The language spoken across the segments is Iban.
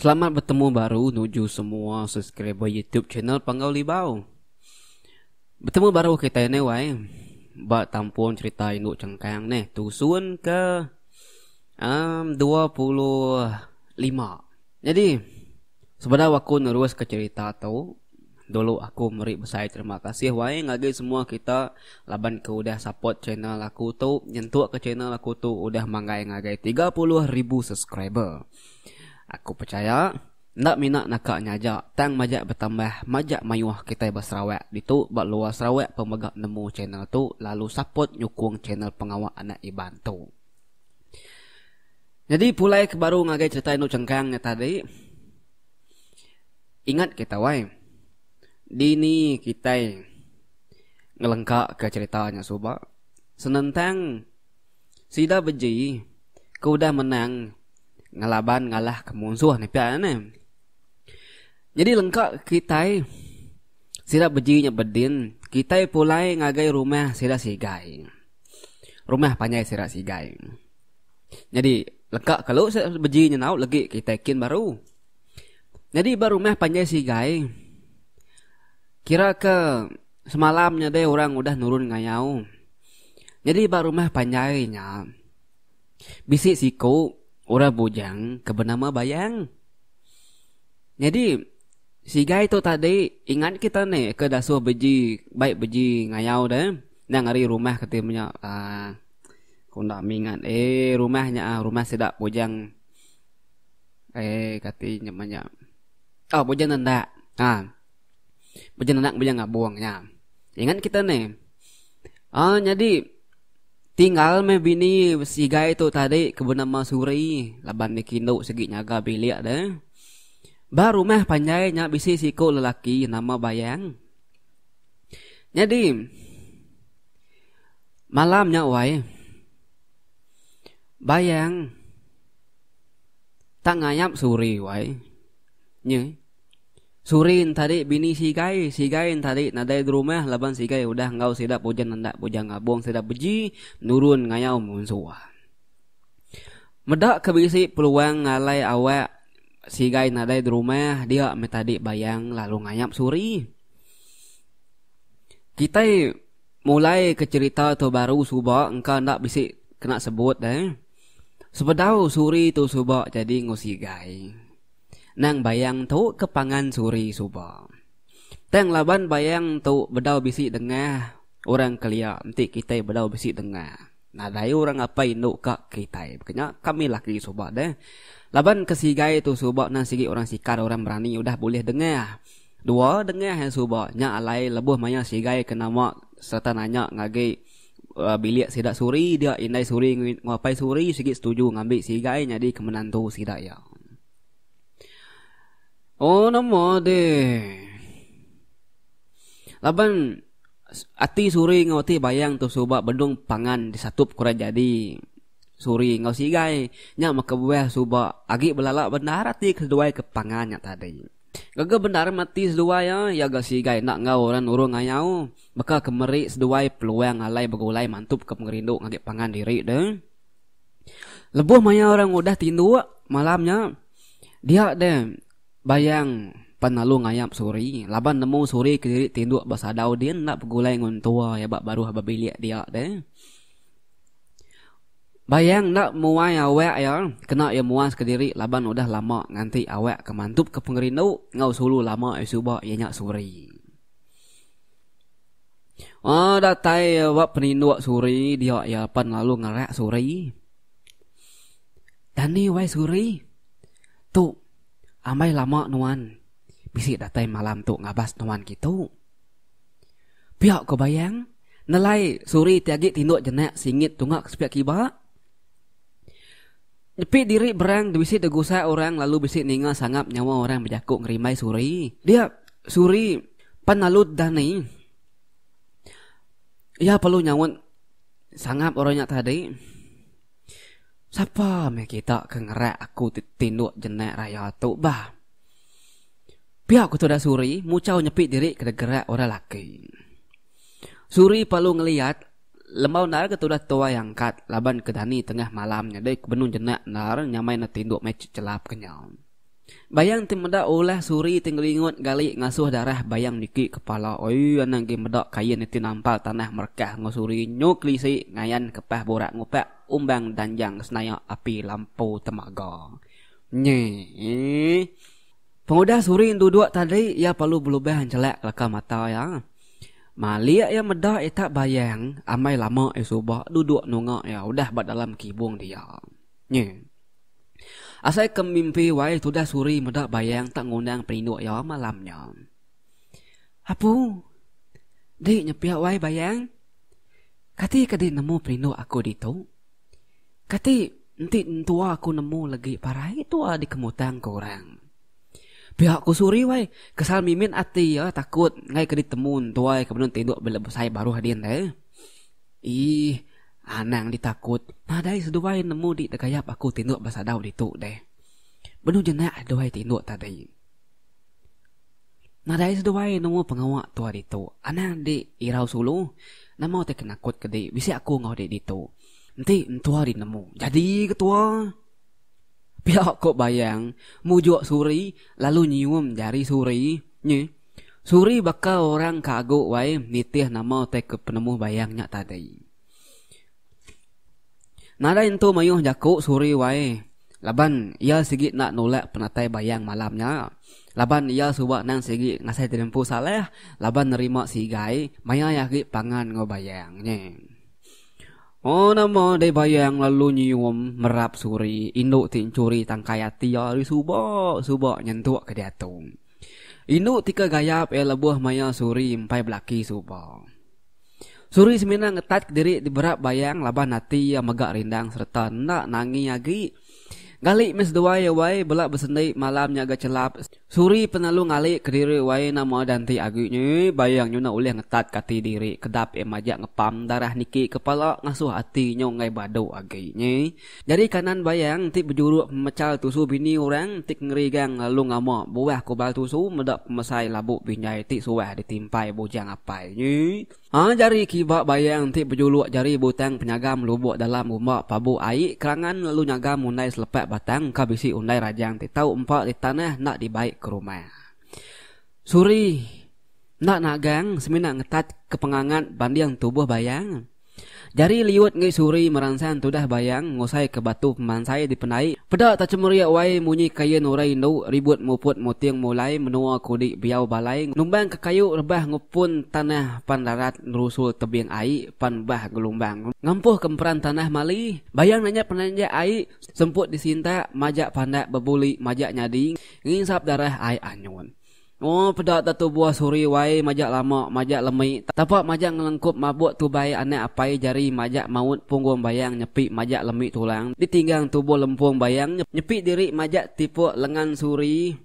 Selamat betemu baru nuju semua subscriber YouTube channel Panggau Libau. Betemu baru kita ni wai. Ba tampung cerita indu chengkang neh tusun ke Um, dua puluh lima. Nyadi, sebedau aku neruska cherita tu, dulu aku meri besai terima kasih wai ngagai semua kita laban ke udah support channel aku tu, nyentukka channel aku tu udah manggai ngagai tiga puluh ribu subscriber. Aku pechaya, enda mina naka nya aja, tang majak betambah, majak mayuh kitai ba Sarawak ditu, ba luar Sarawak pun mega nemu channel tu lalu support nyukung channel pengawa anak Iban tu. Nyadi pulai ke baru ngagai cerita indu chengkang nya tadi ingat kita wai dini kitai ngelengka ke cerita nya suba senentang sida beji ke udah menang ngelaban ngalah ke munsuh ne pia ne. Nyadi lengka kitai sida beji nya bedin kitai pulai ngagai rumah sida sigai. Rumah panjai sira sigai. Nyadi leka kelu beji nyenau legi kitai kin baru. Nyadi ba rumah panjai sigai kira ke semalam nya deh orang udah nurun ngayau. Nyadi ba rumah panjai nya bisi siku orang bujang ke benama Bayang. Nyadi sigai tu tadi ingat kita ne ke dasuh beji bai beji ngayau deh. Endang ari rumah keti menya ah ku enda mingat eh rumah nya ah rumah sida bujang eh kati nya menya oh bujang nendak ah bujang nendak bujang ngabung nya ingat kita ne ah nyadi tinggal me bini sigai tu tadi ke benama suri laban niki endo sigi nyaga bilik de ba rumah panjai nya bisi siku lelaki nama bayang. Nyadi malam nya wai bayang tak ngayap suri wai nyi suri ntadi bini sigai sigai ntadi nadai derumah laban sigai udah enggau sida puja nenda puja ngabung sida beji nurun ngayau munsuh meda ke bisi peluang ngalai awak sigai nadai derumah dia meh tadi bayang lalu ngayap suri. Kitai mulaika cherita tu baru suba engka enda bisi kena sebut deh. Sebedau Suri tu suba jadi enggau Sigai. Nang Bayang tu ke pangan Suri suba. Tang laban Bayang tu bedau bisi dengah orang kelia enti kitai bedau bisi dengah. Nadai orang apai indu ka kitai. Baka nya kami laki suba deh. Laban ke Sigai tu suba nang sigi orang sikar orang berani udah bulih dengah. Dua dengah iya suba nya alai lebuh maya Sigai ke nama sereta nanya ngagi bilik sida Suri dia indai Suri nguapai Suri sigi setuju ngambi Sigai nyadi ke menantu sida iya. Oh nama deh. Laban ati Suri enggau ati Bayang tu suba bedung pangan disatup ke orang jadi Suri enggau Sigai nya meh kebuah suba agi belala bendar ati keduai ke pangan nya tadi. Gaga bendar mati seduai iya, iya ga sigai enda enggau orang nurung ngayau, baka ke meri seduai peluang alai begulai mantupka pengerindu ngagai pangan diri deh. Lebuh maya orang udah tinduk malam nya, dia deh bayang pan lalu ngayap suri laban nemu suri kediri tinduk ba sadau din enda begulai nguntua iya ba baruh ba bilik dia deh. Bayang enda muai awak iya kena iya muas ke diri laban udah lama nganti awak ke mantup ke pengerindu enggau sulu lama iya suba iya nya Suri. Uhh datai iya ba peninduk Suri dia iya pan lalu ngerak Suri. Dani wai Suri. Tu ambai lama nuan bisi datai malam tu ngabas nuan kitu. Pia ko Bayang nelai Suri ti agi tinduk jenak singit tunga ke sepiak kiba. Nyepi diri berang ti bisi tegusa orang lalu bisi ninga sangap nyawa orang bejaku ngerimbai Suri. Dia Suri pan lalu dani. Iya perlu nyaut sangap orang nya tadi. Sapa meh kita ke ngerak aku ti tinduk jenak raya tu bah. Pia ku tuda Suri muchau nyepi diri ke degerak orang laki. Suri palu ngeliat lembau endar ke tuda tuai angkat laban ke dani tengah malam nyadi ke benung jenak endar nyamai enda tinduk meh chelap ke nyau. Bayang ti meda ulah Suri ti ngeringut gali ngasuh darah bayang miki kepala oi anak agi meda kain niti nampal tanah merekah enggau Suri nyu kelisi ngayan ke pas burak ngupak umbang danjang ke senayak api lampu temaga. Nyii. Pengudah Suring duduk tadi iya perlu belubang jelak kelaka mata iya. Malik iya meda itak bayang amai lama iya suba duduk nunga iya udah ba dalam kibung dia. Nyi. Asai ke mimpi wai tudah Suring meda bayang tak ngundang perindu iya malam nya. Apu. Di nyepik wai bayang. Kati ke di nemu perindu aku ditu. Kati enti entua aku nemu legi parai tua dikemutang ke orang. Pia aku Surio ai, kesal mimit ati iya takut enggai ke ditemu entua iya ke benung tinduk bila besai baruh din deh. Iih, anang ditakut, nadai seduai nemu dik degayap aku tinduk besadau ditu deh. Benung jenak seduai tinduk tadi. Nadai seduai nemu pengawa tua ditu, anang dik irau sulu. Nama utai ke nakut ke dik bisi aku enggau dik ditu. Enti entua dinemu jadi ketua, pia ko Bayang mujuk Suri lalu nyium jari Suri nyi. Suri baka orang ka agu wai nitih nama utai ke penemu Bayang nya tadi. Nadai entu mayuh jaku Suri wai laban iya sigi enda nulak penatai Bayang malam nya laban iya suba nang sigi ngasai jadi empu Saleh laban nerima sigai mayai agi pangan enggau Bayang nyi. Oh nama dei bayang lalu nyium merap suri indu ti enchuri tangkai ati iya ari suba suba nyentuk ke diatu. Indu ti ke gayap iya lebuh maya suri empai belaki suba. Suri semina ngetat kediri ti berap bayang laban ati iya mega rindang sereta enda nangi agi. Ngali meh seduai iya wai bela besendi malam nya ga chelap Suri penalu ngali kediri wai enda moa danti agi nya bayang nyu enda ulih ngetat ke ati diri kedap iya majak ngepam darah niki kepala ngasuh ati nyu enggai badu agi nya jari kanan bayang enti bejuruk pemechal tusu bini orang enti kengerigang lalu ngama buah kubal tusu meda pemesai labu binjai ti suah ditimpai bujang apai nya. A Jari kiba bayang enti bejuluk jari butang penyagam lubuk dalam rumba pabu ai kerangan lalu nyagam undai selepak batang ka bisi undai rajang ti tau empa di tanah enda dibai ke rumah. Suri enda nagang semina ngetat ke pengangat banding tubuh bayang. Jari liut enggai suri meransan tudah bayang ngusai ke batu pemansai dipendai peda tachemerik wai munyi kain urai indu ribut muput muting mulai menua kudi biau balai numbang ke kayu rebah ngupun tanah pan rarat nerusul tebing ai pan bah gelumbang ngampuh ke emperan tanah mali bayang nanya penanjak ai semput disintak majak pandak bebuli majak nyadi nginsap darah ai anyun. Ooh peda datu buah suri wai majak lama majak lemi tapa majak ngelengkup mabuk tubai anak apai jari majak maut punggung bayang nyepi majak lemi tulang ditinggang tubuh lempung bayang nyepi diri majak tipuk lengan suri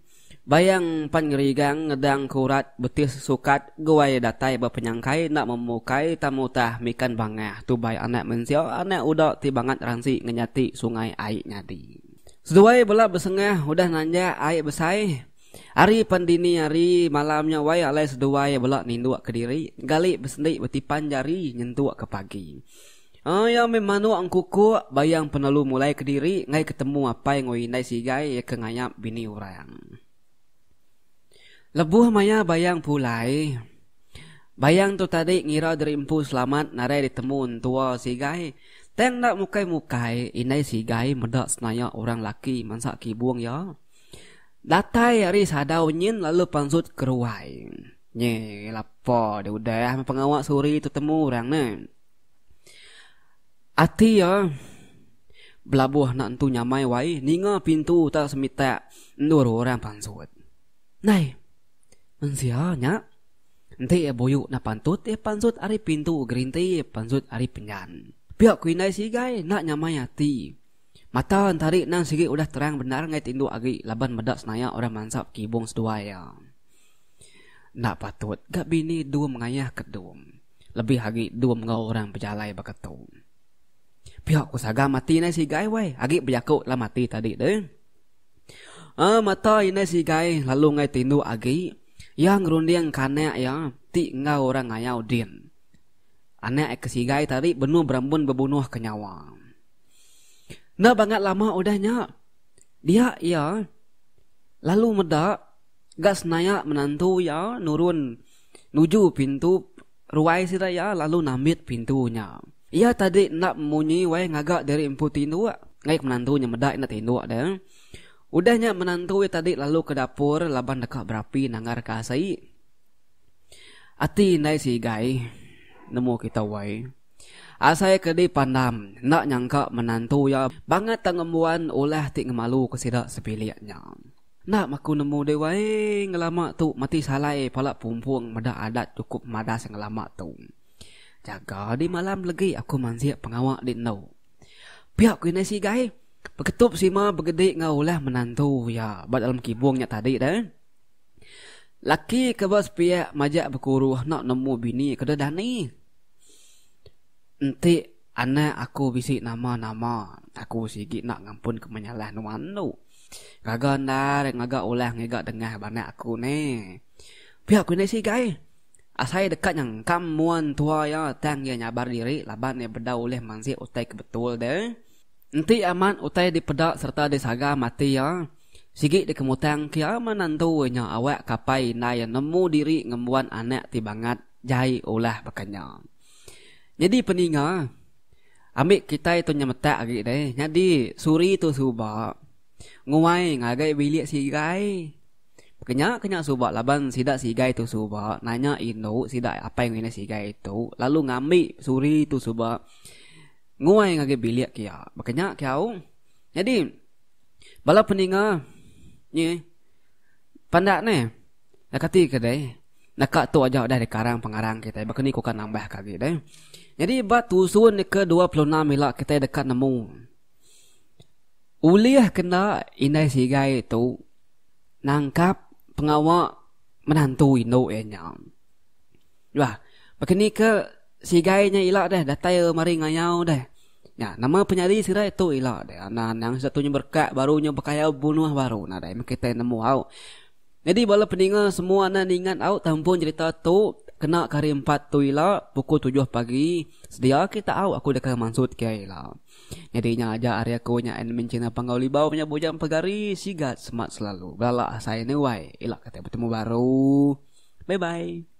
bayang pan ngerigang ngedang ke urat betis sukat guai datai ba penyangkai enda memukai tang mutah mikan bangah tubai anak mensia anak uda ti bangat ransi ngenyati sungai ai nyadi seduai bela besengah udah nanjak ai besai. Ari pan dini hari malam nya wai alai seduai bela ninduk kediri gali besendi betipan jari nyentuk ke pagi. Iya meh manuk engkukuk bayang penelu mulai kediri enggai ke temu apai enggau indai sigai iya ke ngayap bini orang. Lebuh maya bayang pulai, bayang tu tadi ngira diri empu selamat nadai ditemu entua sigai. Tang enda mukai-mukai, indai sigai meda senayak orang laki mansa kibung iya. Datai ari sadau nyin lalu pansut ke ruai. Nyi lapa deh udah meh pengawa Suri tu temu orang ne. Ati iya belabuh anak entu nyamai wai ninga pintu utak semitak endur orang pansut. Nai! Mensia nya? Enti iya buyu enda pantut iya pansut ari pintu gerinti pansut ari penyan. Pia ku indai sigai enda nyamai ati. Mata Entari endang sigi udah terang bendar enggay tindu agi laban meda senaya orang mansap kibung seduai iya. Enda patut ga bini dum ngayah ke dum, lebih agi dum enggau orang bejalai baka tu. Pia ku Saga mati inai sigai wai agi bejaku dalam ati tadi deh. Aa mata inai sigai lalu enggay tindu agi iya ngerunding ke anak iya ti enggau orang ngayau din. Anak iya ke sigai tadi benung berambun bebunuh ke nyawa. Enda bangat lama udah nya, dia iya lalu meda ga senaya menantu iya nurun nuju pintu ruai sida iya lalu nambit pintu nya. Iya tadi enda munyi wai ngaga diri empu tinduk ngagai ke menantu nya meda enda tinduk dia. Udah nya menantu iya tadi lalu ke dapur laban deka berapi nanggar ka asi. Ati indai sigai nemu kita wai. Asai ke dipandam, enda nyangka menantu iya bangat tang ngembuan ulah ti ngemaluka sida sebilik nya. Enda maku nemu deh wai ngelama tu mati salai pala pumpung meda adat chukup madas ngelama tu. Jaga di malam legi aku mansik pengawa di endu. Pia ku indai sigai, beketup sima begedi enggau ulah menantu iya ba dalam kibung nya tadi deh. Laki ke besepiak majak bekuruh enda nemu bini ke deh dani. Enti anak aku bisi nama-nama, aku sigi enda ngampun ke menyalah nuan tu. Gaga endar ngaga ulah ngiga dengah ba anak aku ne. Pia ku enda isi gai. Asai deka nyengkam mua entua iya tang iya nyabar diri laban iya bedau ulih mansik utai ke betul deh. Enti amat utai dipeda sereta disaga mati iya, Sigi dikemutang kia menantu nya awak kapai indai nemu diri ngembuan anak ti bangat jai ulah baka nya. Nyadi peninga, ambi kitai tu nyemetak agi deh nyadi suri tu suba nguai ngagai bilik sigai. Baka nya ke nya suba laban sida sigai tu suba nanya indu sida apai enggau indai sigai tu lalu ngambi suri tu suba nguai ngagai bilik kia. Baka nya kiau. Nyadi. Bala peninga nye pandak ne. Nak kati ke deh. Nak ka tu aja udah dikarang pengarang kita. Baka ni ku ka nambah ka lagi deh. Jadi ba tusun ke 26 ila kita deka nemu. Ulih kena indai sigai tu nangkap pengawa menantu indu iya nya. Bah. Baka ni ke. Sigai nya ila deh datai mari ngayau deh. Nya nama penyadi sirai tu ila deh anang anang sida tu nya berkat baru nya bekayau bebunuh baru nadai meh kitai nemu au. Nyadi bala peninga semua enda ningat au tampung cherita tu kena ke hari empat tu ila pukul tujuh pagi sedia agi taau aku deka mansut kiai ila. Nyadi nya aja ari aku nya admin china panggau libau nya bujang pegari sigat semat selalu belala asai nuai ila kitai betemu baru. Bye bye.